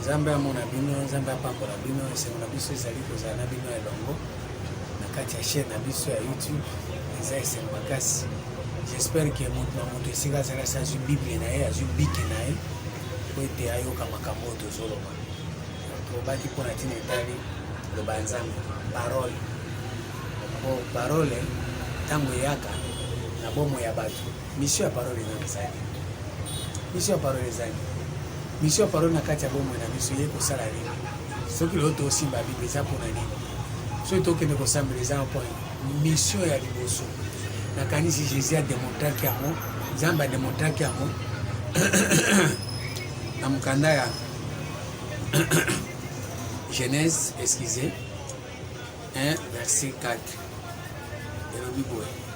Nzambe amona bino, Nzambe apambola bino. Esengo na biso ezali kozala na bino elongo na kati ya chaîne na biso ya YouTube. Eza esengo makasi. J'espère que moto na moto esika azali asi azwi Bible na ye, azwi bike na ye mpo ete ayoka makambo oyo tozoloba. Tobaki mpo na ntina etali loba ya Nzambe, parole. Mpo parole ntango eyaka na bomoi ya bato Mission ya parole eza ezali. Mission ya parole ezali. Mission ya parole na kati ya bomoi na biso ye kosala nini? Soki lelo tosimba Biblia eza mpo na nini? Soki tokende kosambela eza mpo mission ya liboso. Nakanisi Jésus a demontraki yango, Nzambe a demontraki yango na mokanda ya Genèse, excusez, 1 verset 4. elobi boye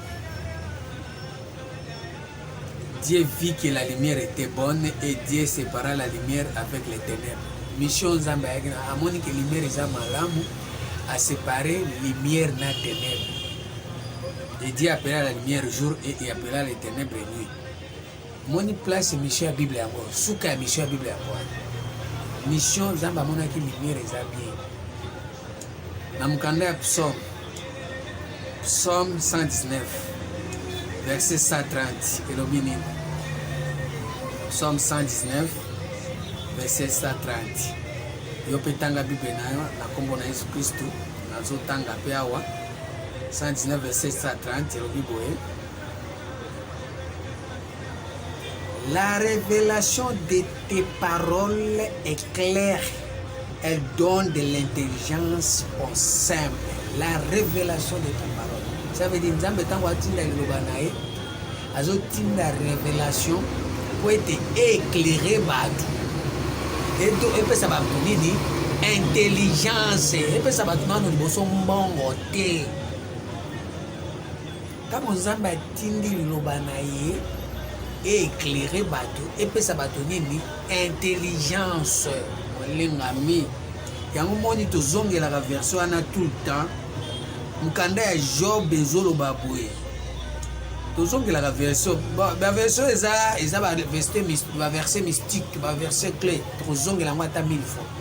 Dieu vit que la lumière était bonne et Dieu sépara la lumière avec les ténèbres. Mission Nzambe ayaki na amoni que lumière eza malamu a séparer lumière na ténèbres. Et Dieu appela la lumière jour et il appela les ténèbres nuit. Moni place mission ya Bible yango, suka ya mission ya Bible yango. Mission Nzambe amonaki lumière eza bien. Na mokanda ya Psaume, Psaume 119, verset 130, elobi nini? Psaume 119, verset 130. yo mpe tanga bible na yo na nkombo na yesu kristu nazotanga mpe awa 119 verset 130 elobi boye La révélation de tes paroles est claire. Elle donne de l'intelligence au simple. La révélation de tes paroles. Ça veut dire Nzambe tango atinda liloba na ye azotinda révélation mpo ete éclaire bato eto epesa bato nini intelligence epesa bato nano liboso mbongo te Ntango Nzambe atindi Liloba na Ye, e eclaire bato, epesa bato nini? Intelligence. Molingami, yango moni tozongelaka version wana tout le temps. Mokanda ya Job ezoloba boye tozongelaka version baversion eza eza baverse mystique baverse clé tokozongela yango ata mille fois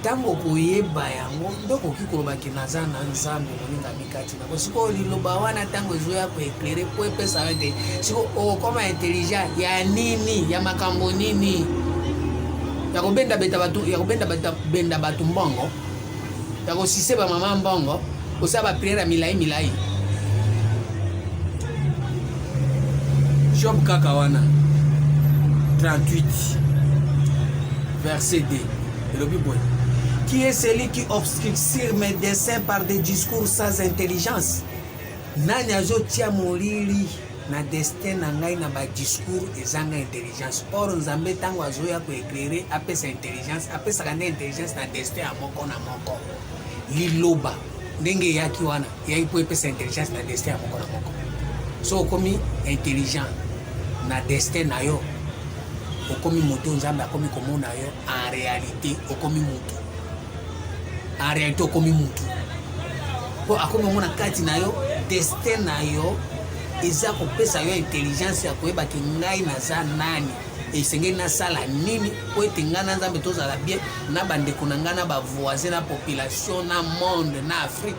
ntango okoyeba yango nde okoki koloba ke naza na nzambe moninga mikati nako sikoyo liloba wana ntango ezoya koeklere mpo epesa yo te siko okokoma intelligent ya nini ya makambo nini ya kobenda beta bato ya kobenda benda bato mbongo ya kosise bamama mbongo osala bapriere ya milai milai job kaka wana 38 Verset 2 elobi boye qui est celui qui obscurcir mes desseins par des discours sans intelligence nani azotia molili na destin na ngai na badiscours ezanga intelligence or nzambe ntango azoya koeklere apesa intelligence apesaka nde intelligence na destin ya moko na moko liloba ndenge eyaki wana eyaki mpo epesa intelligence na destin ya moko na moko so okomi intelligent na destin na yo okomi moto nzambe akomi komona yo en réalité okomi moto en réalité okomi moto mpo akomi omona kati na yo destin na yo eza kopesa yo intelligence ya koyeba ke ngai naza nani esengeli nasala nini mpo ete ngai na nzambe tozala bien na bandeko na ngai na bavoisin na population na monde na afrique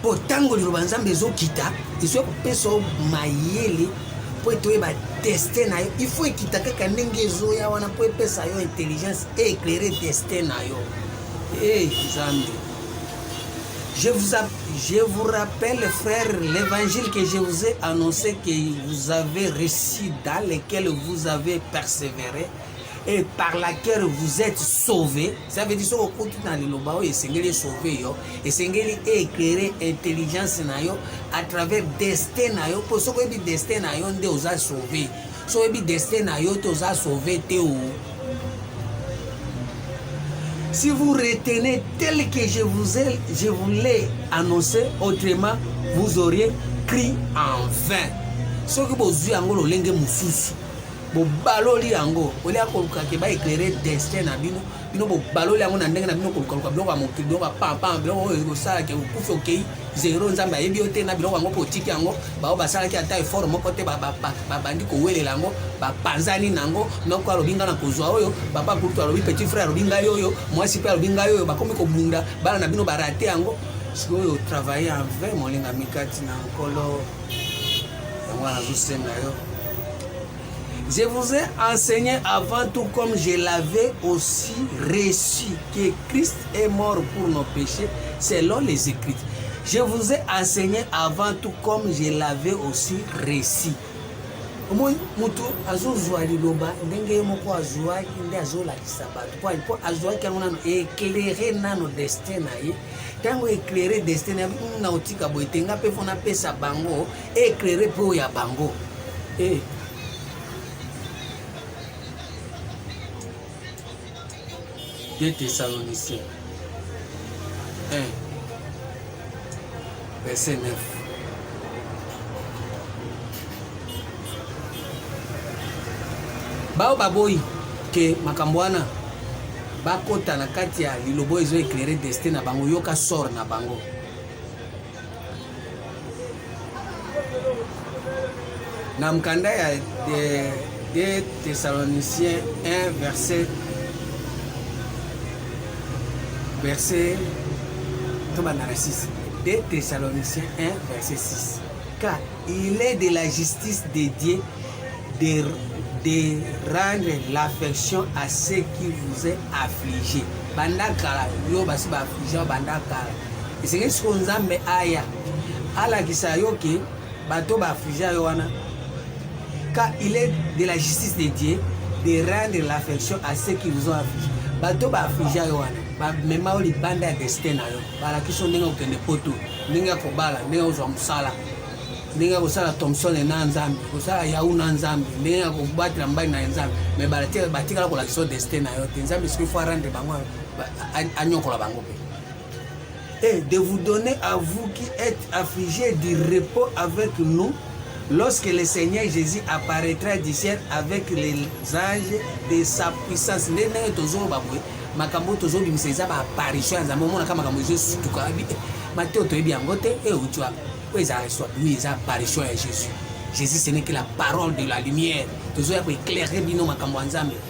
mpo ntango liloba nzambe ezokita ezoya kopesa yo mayele mpo ete oyeba destin na yo ifo ekita kaka ndenge ezoya wana mpo epesa yo intelligence e éclaire destin na yo e nzambe je vous, je vous rappelle frère l'évangile que je vous ai annoncé que vous avez réussi dans lequel vous avez persévéré et par laquelle vous êtes sauvé ça veut dire soki okuti na liloba oyo esengeli esauve yo esengeli éclaire intelligence na yo à travers destin na yo mpo soki oyebi destin na yo nde oza sauve soki oyebi destin na yo te oza sauve te o si vous retenez tel que je vous ai, je vous l'ai annoncé autrement vous auriez cri en vain soki bozwi yango lolenge mosusu bobaloli yango olie ya koluka ke ba éclaire destin na bino bino bobaloli yango na ndenge na bino kolukaluka biloko ya mokili biloko ya pampam biloko oyo ekosala ke okufi okei zero nzambe ayebi yo te na biloko yango mpo otiki yango bao basalaki ata effort moko te babandi kowelela yango bapanzani na yango noko alobi ngai na kozwa oyo papa kutu alobi petit frère alobi ngai oyo mwasi mpe alobi ngai oyo bakomi kobunda bana na bino barate yango sikoyo travaille en vrai molingami kati na nkolo yango wana nazosenga yo Je vous ai enseigné avant tout comme je l'avais aussi reçu que Christ est mort pour nos péchés selon les écrits. Je vous ai enseigné avant tout comme je l'avais aussi reçu. omoi moto azozwa liloba ndenge ye moko azwaki nde azolakisa bato mpo azwaki yango nano eklere nano destin na ye ntango eclaire destin na biso na otika boye te nga mpe mpo napesa bango eclaire mpe oyo ya bango eh. de thessalonicien eh. Verset 9. Bao baboyi ke makambo wana bakota na kati ya liloba oyo ezo eclaire destin na bango yoka sort na bango Na mokanda ya 2 Thessaloniciens 1 verset verset tobanda na 6 2 Thessaloniciens 1 verset 6 car il est de la justice de Dieu de, de rendre l'affection à ceux qui vous est affligé banda kala yo basi baafflige banda kala esengeli sikoyo nzambe aya alakisa yo ke bato ba affligea yo wana car il est de la justice de Dieu de rendre l'affection à ceux qui vous ont affligé bato ba affligea yo wana bamema yo libanda ya destin na yo balakisi yo ndenge okende poto ndenge ya kobala ndenge ozwa mosala ndenge ya kosala thomson na nzambe kosala yau na nzambe ndenge ya kobatela mbali na nzambe me batikala kolakisa yo destin na yo te nzambe soki fo arendre bango anyokola bango mpe et de vous donner à vous qui êtes affligés du repos avec nous lorsque le Seigneur Jésus apparaîtra du ciel avec les anges de sa puissance nde ndenge tozoloba boye makambo tozobimisa eza baapparition ya nzambe omonaka makambo ezosutuka mateo toyebi yango te euti wapi oyo ezalaka swabimi eza apparition ya jésus jésus ce n'est que la parole de la lumière tozoya koeclaire bino makambo ya nzambe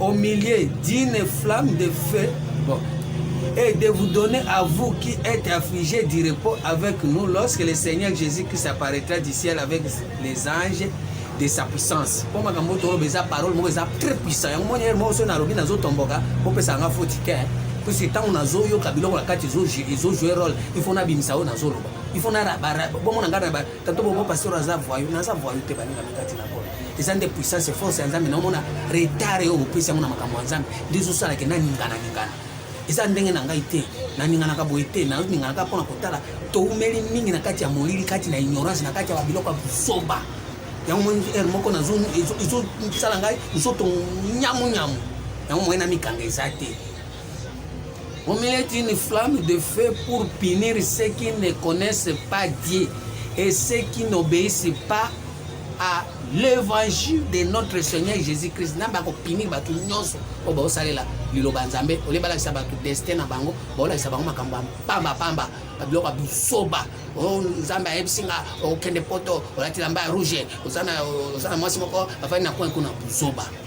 au milieu d'une flamme de feu bon, et de vous donner à vous qui êtes affligés du repos avec nous lorsque le Seigneur Jésus-Christ apparaîtra du ciel avec les anges de sa puissance mpo makambo toloba eza parole moko eza très puissant yango moni moko soki nalobi nazotomboka bopesa yanga foti te puisque ntango nazoyoka biloko na kati ezojoue role il faut nabimisa oyo nazoloba il faut bomona ngai Tato bobo pasteur aza voyou, naza voyou te baninga mikati na kolo. Eza nde puissance force ya Nzambe na omona retard yo opesi yango na makambo ya Nzambe. Ndizo sala ke na ningana ningana. Eza ndenge na ngai te. Na ningana ka boye te, na ningana ka pona kotala to umeli mingi na kati ya molili, kati na ignorance, na kati ya biloko ya busoba. Yango moni er moko na zo izo sala ngai nzoto nyamu nyamu. Yango moyena mikanga eza te. Au milieu d'une flamme de feu pour punir ceux qui ne connaissent pas Dieu et ceux qui n'obéissent pas à l'évangile de notre Seigneur Jésus-Christ. Nzambe akopinir bato nyonso oyo baosalela liloba Nzambe olie balakisa bato destin na bango baolakisa bango makambo ya mpambapamba babiloko ya busoba oh, Nzambe ayebisi nga okende oh, poto olati lamba ya rouge oza na mwasi moko afandi na coin kuna busoba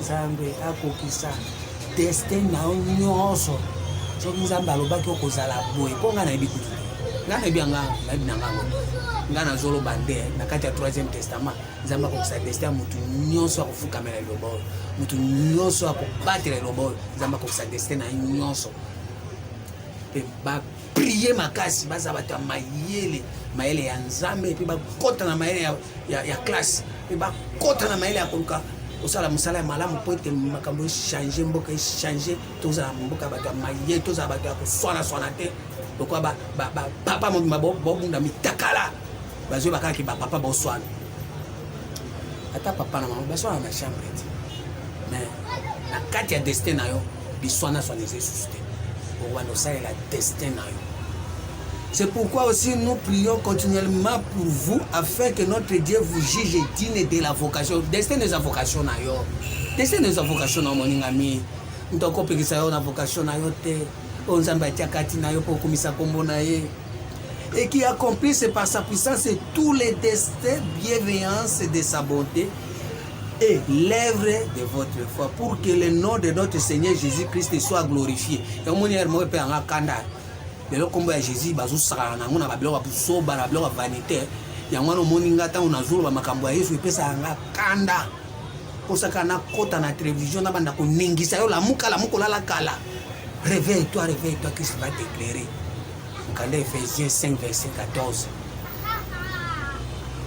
nzambe akokisa deste na yo nyonso soki nzambe alobaki okozala boye mpo ngai nayebi kutu ngai nayebi yanga nayebi na ngango ngai nazoloba nde na kati ya troisième testament nzambe akokisa deste ya motu nyonso akofukamela eloba oyo motu nyonso akobatela eloba oyo nzambe akokisa deste na ye nyonso mpe prier makasi baza bato ya mayele mayele ya nzambe mpe bakota na mayele ya, ya, ya classe mpe bakota na mayele ya koluka kosala mosala ya malamu mpo ete makambo echange mboka echange tozala mboka bato ya mayele tozala bato ya koswanaswana te lokola bapapa mobimba bobunda mitakala bazo ba kaka ba papa boswana ata papa na mama baswana na chambre te mais na kati ya destin na yo biswana swana eza esusu te okobanda osalela destin na yo C'est pourquoi aussi nous prions continuellement pour vous afin que notre Dieu vous juge digne de la vocation. Destin des vocations na yo. Destin des vocations na moninga mi. Ntoko pekisa yo na vocation na yo te. Onzamba tia kati na yo pour komisa kombo na ye. et qui accomplissent par sa puissance tous les destins, bienveillances de sa bonté et l'œuvre de votre foi pour que le nom de notre Seigneur Jésus-Christ soit glorifié. yamoni yare moko mpe yanga kanda lelo nkombo ya jésus bazosakana nango na babiloko ya busoba na babiloko ya vanité yango wana omoni nga ntango nazoloba makambo ya yesu epesaka nga kanda kosaka na kota na television na banda koningisa yo lamuka lamuka olala kala réveille toi réveille toi qui va t'éclairer mokanda ephésiens 5 verset 14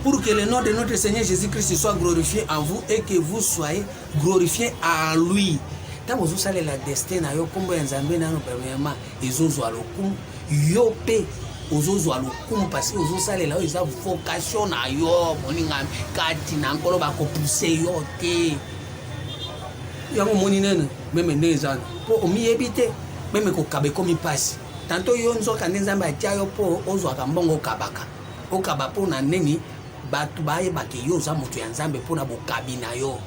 pour que le nom de notre Seigneur Jésus-Christ soit glorifié en vous et que vous soyez glorifiés à lui ntango ozosalela destin na yo nkombo ya nzambe nano premièrement ezozwa lokumu yo mpe ozozwa lokumu parce ozosalela oyo eza vocation na yo moninga kati na nkolo bakopuse yo te yango omoni nene meme nde eza mpo omiyebi te meme kokaba ekomi mpasi tanto yo nzoka nde nzambe atya yo mpo ozwaka mbongo okabaka okaba mpo na nini bato bayebake yo oza moto ya nzambe mpo na bokabi na yo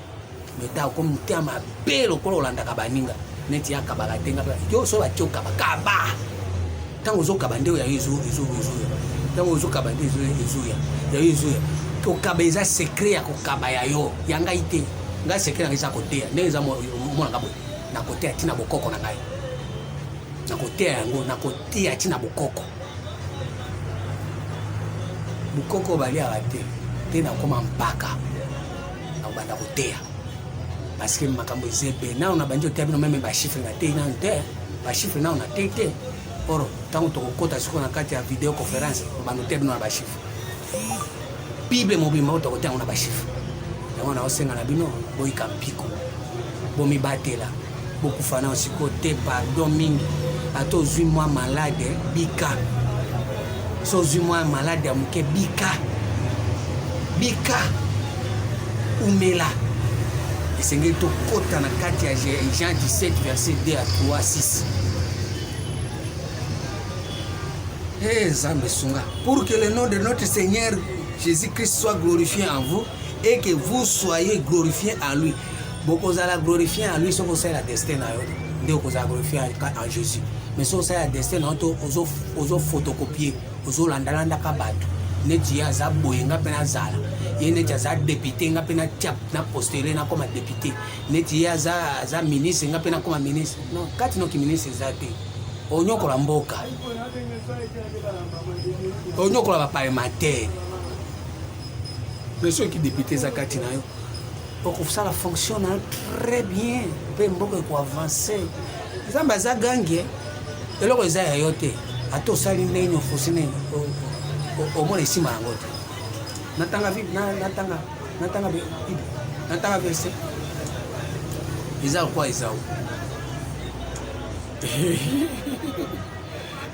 meta okomi motema mabe lokola olandaka baninga neti ya kabaka te nga yo so batio kaba kaba ntango ozokaba nde ya yo ezoya ntango ozokaba nde ezoya ya yo ezoya kokaba eza sekret ya kokaba ya yo ya ngai te ngai sekret nanga eza koteya ndenge eza monanga boye nakoteya ntina bokoko na ngai nakoteya yango nakoteya ntina bokoko bokoko baliaka te te nakoma mpaka na kobanda koteya parce que makambo eza ebe nano na bandi oteya bino meme bachiffre nateyi nano te bachiffre nano nateyi te oro ntango tokokota sikoyo na kati ya video conférence kobanda oteya bino na bachiffre bible mobimba oyo tokoteya yango na bachiffre yango naosenga na bino boyika mpiko bomibatela bokufa na siko te pardon mingi ata ozwi mwa malade bika so ozwi mwa malade ya moke bika bika umela esengeli tokɔta na kati ya jean 17 verset 2 à 3 6 Hey, Nzambe sunga. Pour que le nom de notre Seigneur Jésus-Christ soit glorifié en vous et que vous soyez glorifiés en lui. bokozala glorifie ya lui soki osalela destin na yo nde okozala glorifie en jésus mais soki osalela destin na yo to ozofotokopie ozolandalandaka bato neti ye aza boye nga mpe nazala ye neti aza depute nga mpe natia na postele nakoma depute neti ye aza, aza ministre nga mpe nakoma ministre non kati noki ministre eza te onyokola mboka onyokola baparlementaire mais soki depute eza kati na yo okosala fonction na très bien mpe mboka ekoavanse nzambe aza gangi eh. eloko eza ya yo te ata osali ndenge nini ofusi nini omona esima yango te natanga natanga natanga bible natanga verse eza kwa ezao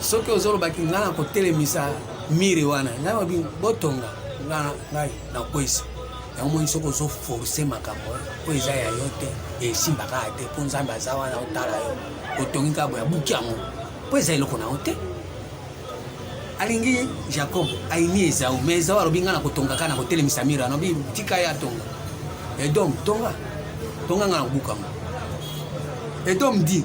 soki ozoloba ki ngai nakotelemisa mire wana ngai babi botonga ngai nakwesi yango moni soki ozoforce makambo oyo eza ya yo te esimba kaka te mpo nzambe aza wana otala yo otongi kaka boya buki yango mpo eza eloko na yo te alingi jacob ayini ezau ma ezau alobi ngai nakotonga kaka nakotelemisa mire wana obi tika ye atonga edom tonga tonga ngai nakobuka yango edom di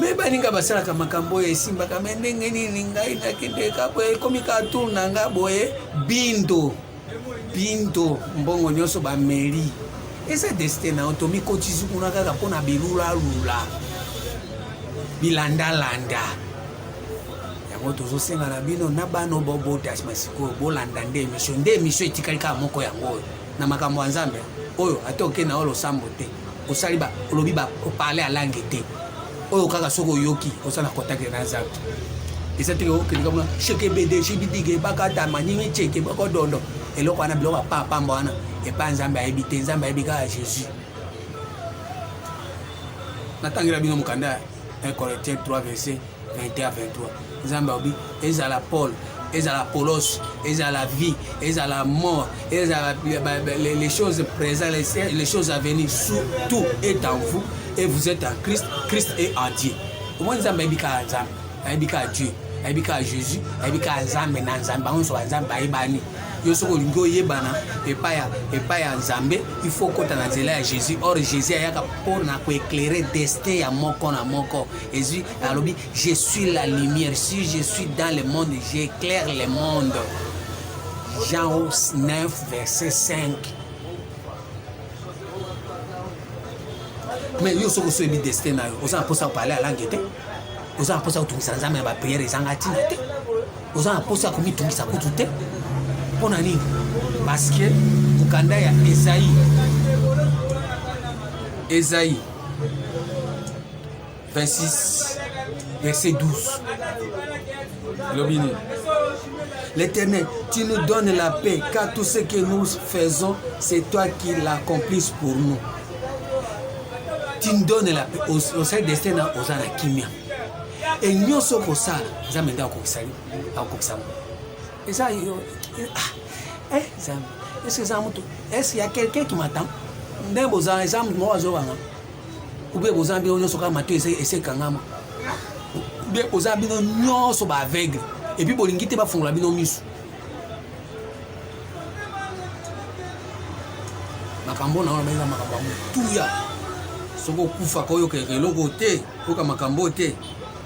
me baninga basalaka makambo oyo esimbaka me ndenge nini ngai nakende ka boye ekomi ka tour na nga boye bindo bindo mbongo nyonso bameli eza destin na yo tomikotisi kuna kaka mpo na bilulalula bilandalanda yango tozosenga na bino na bana bobota nsima sikoyo bolanda nde emission nde emission etikali kaka moko yango oyo na makambo ya nzambe oyo ata oke na yo losambo te osali ba olobi ba parler à langue te oyo kaka soki oyoki oza na contact na nzambe eza teke okendeka mona sheke bede shibidige bakata maningi cheke bakodondo eloko wana biloko apapamba wana epai nzambe ayebi te nzambe ayebi kaka jésus natangela bino mokanda 1 corinthiens 3 verset 21 23 nzambe alobi ezala paul ezala polos ezala vie ezala mort ezala les choses présent les choses à venir tout est en vous et vous êtes en christ christ est en dieu omoni nzambe ayebi kaka nzambe ayebi kaka dieu ayebi kaka jésus ayebi kaka nzambe na nzambe bango nyonso banzambe bayebani yo soki olingi oyebana epai ya nzambe il faut okota na nzela ya jésus or jésus ayaka mpo na koeclaire destin ya moko na moko ezwi alobi je suis la lumière si je suis dans le monde j'éclaire le monde jean 9 verset 5 mais yo soki osoyebi destin na yo oza na mposa kopale alange te oza na mposa kotungisa nzambe na bapriere ezanga ntina te oza na mposa komitungisa kutu te mpo na nini parceke mokanda ya ezai ezai 26 verset 12 elobi nini L'Éternel, tu nous donnes la paix, car tout ce que nous faisons, c'est toi qui l'accomplisse pour nous. Tu nous donnes la paix. Osali destin na oza na kimia. E nyonso okosala, Nzambe nde akokisa akokisa. Eza yo ah, eh Nzambe, est-ce que eza moto? Est-ce qu'il y a quelqu'un qui m'attend? Nde bozala eza moto moko azobanga. ube boza bino nyonso kaka mato ese ekangama ube boza bino nyonso ba aveugle epuis bolingi te bafungola bino miso makambo na wana baeza makambo ya motuya soki okufa koyoka eloko te oyoka makambo te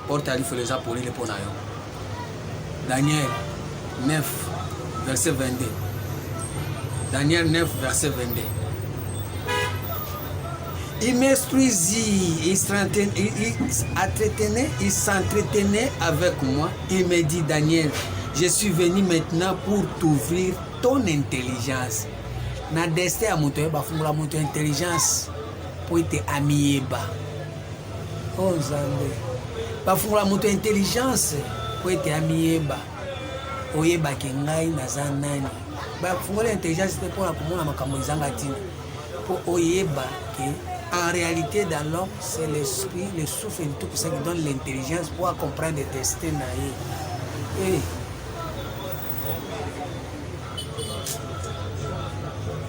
Porte ya lifelo eza polele mpo na yo. Daniel 9 verset 22. Daniel 9 verset 22. Il m'instruisit, il s'entretenait, il s'entretenait avec moi. Il me dit, Daniel, je suis venu maintenant pour t'ouvrir ton intelligence. Na destin ya moto yeba fungola moto intelligence mpo ete amiyeba. Oh Nzambe, bafungola moto intelligence po ete amiyeba, oyebake ngai naza nani. Bafungola intelligence te mpona komona makambo ezanga ntina, mpo oyeba ke en réalité dans l'homme c'est l'esprit le souffle du tout puissant qui donne l'intelligence pour comprendre destin na ye. Hey. Eh,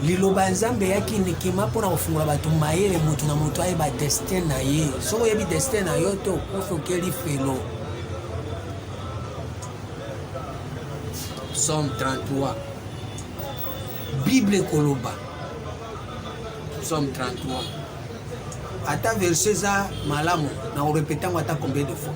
liloba ya nzambe eyaki ndikima mpo na kofungola bato mayele moto na moto ayeba destin na ye soki oyebi destin na yo te okofi okeli felo psaume 33 bible ekoloba psaume 33 ata verse eza malamu na korepete yango ata combien de fois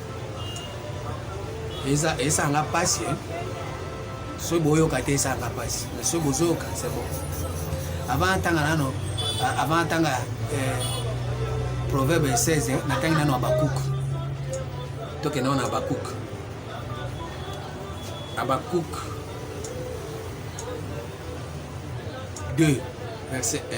eza esanga pasi hein? soki boyoka te esanga pasi mais soki bozoyoka c'est bon avant atanga nano avant atanga eh, proverbe 16 eh, natangi nano abakuk tokende wana abakuk abakuk 2 verset 1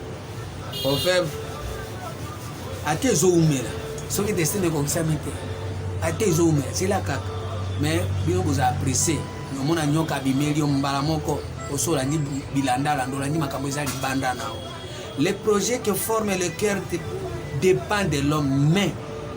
Confirm. Ate ezoumela. Soki destin ekokisami te. Ate ezoumela. Sela kaka. Mais bino boza apprécié. Nomona nyoka abimeli yo mbala moko. Osi olandi bilanda landa olandi makambo eza libanda na yo. Le projet que forme le cœur dépend de l'homme mais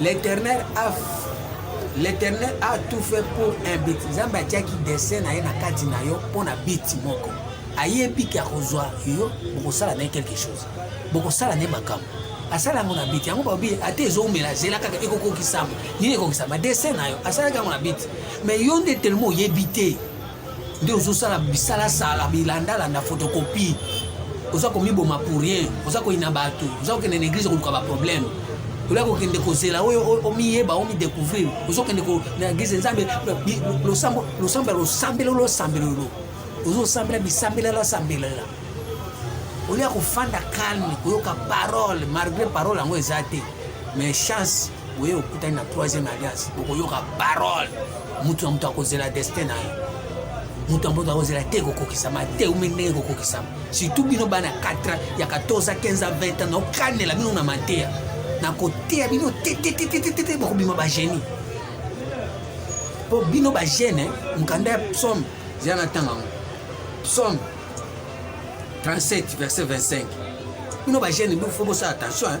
L'Éternel a L'Éternel a tout fait pour un but. Nzambe atiaki dessin na ye na kati na yo mpo na but moko. Ayebi ke akozwa yo, bokosala na ye quelque chose, bokosala na ye makambo. Asala yango na biti yango babi ata ezoumela zela kaka ekokokisama nini ekokisama dessin na yo asalaki yango na biti mais yo nde telema oyebi te nde ozosala bisalasala bilandalanda photocopie oza komiboma pour rien oza koyina bato oza kokende na eglise koluka baproblème oya kokende kozela oyo omiyeba omidecouvrir ozokende na eglise nzambe losambo ya losambelo losambelolo ozosambela bisambela lasambelela olia kofanda calme koyoka parole malgré parole yango eza te mais chance oye okutani na troisième alliance okoyoka parole moto na moto akozela destin na ye moto ya moto akozela te kokokisama te ume ndenge kokokisama surtout bino bana 4 ya 14 15 20 ans naokanela bino na mateya nakoteya bino tetetetetete bakobima bagenie mpo bino bagene mokanda ya psaume zela na ntango yango psaume 37 verset 25 bino bagene bifo bosala attention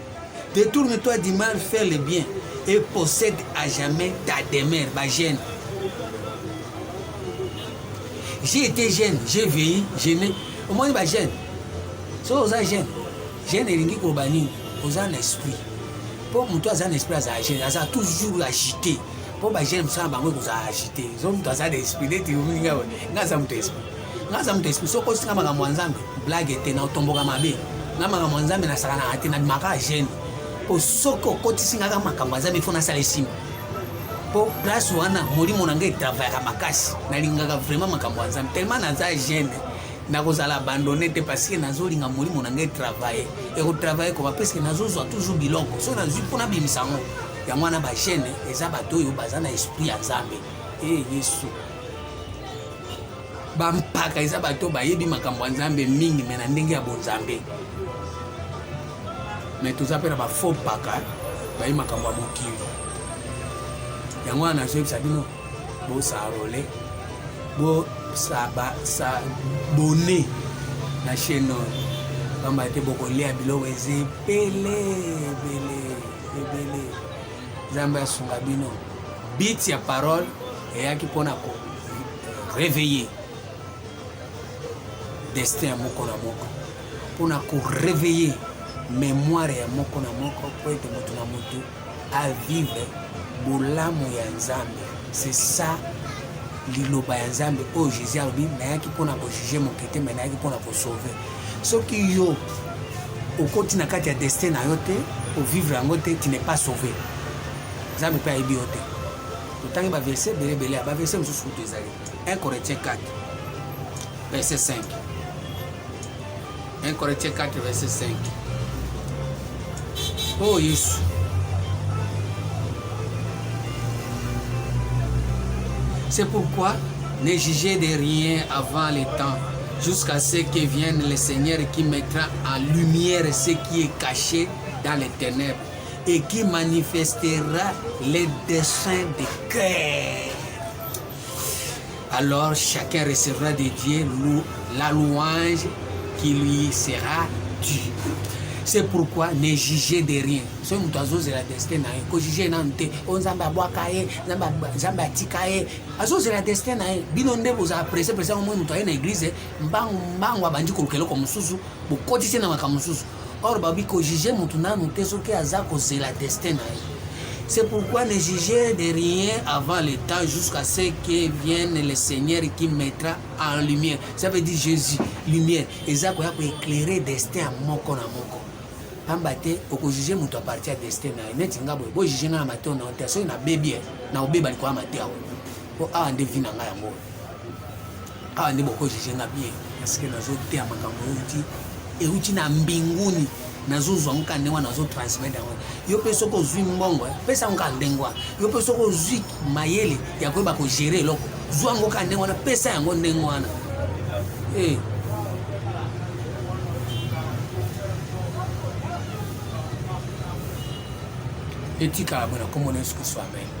Détourne-toi du mal, fais le bien et possède à jamais ta demeure, ba jeune. J'ai été jeune, j'ai veillé, j'ai né. Au moins, ba jeune. So oza jeune, jeune elingi koloba nini? Oza na esprit. Po moto aza na esprit aza jeune, aza toujours agité. Po ba jeune mosala bango ekozala agité. Zo moto aza na esprit, neti olinga nga aza moto esprit. nga aza moto esprit soki osinga makambo ya nzambe blague te na otomboka mabe nga makambo ya nzambe nasakanaka te nabimaka gene mpo soki okotisi ngaka makambo ya nzambe fo nasala esimba mpo place wana molimo na ngai etravayaka makasi nalingaka vraiment makambo ya nzambe tellement naza gene nakozala abandone te parceke nazolinga molimo na ngai etravaye ekotravaye koba parceke nazozwa toujours biloko soki nazwi mpo nabimisa yango yango wana bagene eza bato oyo baza na esprit ya nzambe e yesu bampaka eza bato bayebi makambo ya nzambe mingi me na ndenge ya bonzambe me toza mpe na bafo mpaka bayi makambo ya mokili yango wana nazoyebisa bino bosarole bosabone na chaine oyo pamba te bokolia biloko eza ebele ebele ebele nzambe asunga bino bit ya parole eyaki mpo na ko réveiller destin ya moko na moko mpo na ko réveiller mémoire ya moko na moko mpo ete moto na moto avivre bolamu ya nzambe c'est ça liloba ya nzambe oyo jésus alobi nayaki mpo na kojuge moke te me nayaki mpo na kosauve soki yo okoti na kati ya destin na yo te ovivre yango te tu n'est pas sauve nzambe mpe ayebi yo te totangi ba verse ebele ebele ba verse mosusu kutu ezali 1 corinthiens 4 verse 5 1 corinthiens 4 verse 5 o oh, yesu c'est pourquoi ne jugez de rien avant le temps jusqu'à ce que vienne le seigneur qui mettra en lumière ce qui est caché dans les ténèbres et qui manifestera les desseins de cœur. Alors chacun recevra de Dieu la louange qui lui sera due. C'est pourquoi ne jugez de rien. Ce que nous avons la destin, ko juger nan te, on zamba boaka ye, zamba zamba tika ye. Azo la destin na ye. Bino nde vous appréciez parce que moi mutu na église, mbangu mbangu abandi kolukelo ko mususu, bokotise na makamususu. Or babi ko juger mutu nanu te soki aza kozela destin na ye. C'est pourquoi ne juger de rien avant le temps jusqu'à ce que vienne le Seigneur qui mettra en lumière. Ça veut dire Jésus, lumière. Eza koya ko éclairer destin ya moko na moko. Pamba te okojuge moto aparti ya destin na ye neti nga boye bojuge nga na mateo na te soki nabebi ye na obeba likolo ya mateo mpo awa nde vi na ngai yango Awa nde boko juge nga bien parce que nazo teya makambo euti euti na mbinguni nazozwa ngo kaka ndenge wana nazo transmettre yango yo mpe soki ozwi mbongo eh, pesa ngo kaka ndenge wana yo mpe soki ozwi mayele ya koyeba kogere eloko zwa yango kaka ndenge wana pesa yango ndenge wana hey. Eh. etikala bona komona yesu kristo amen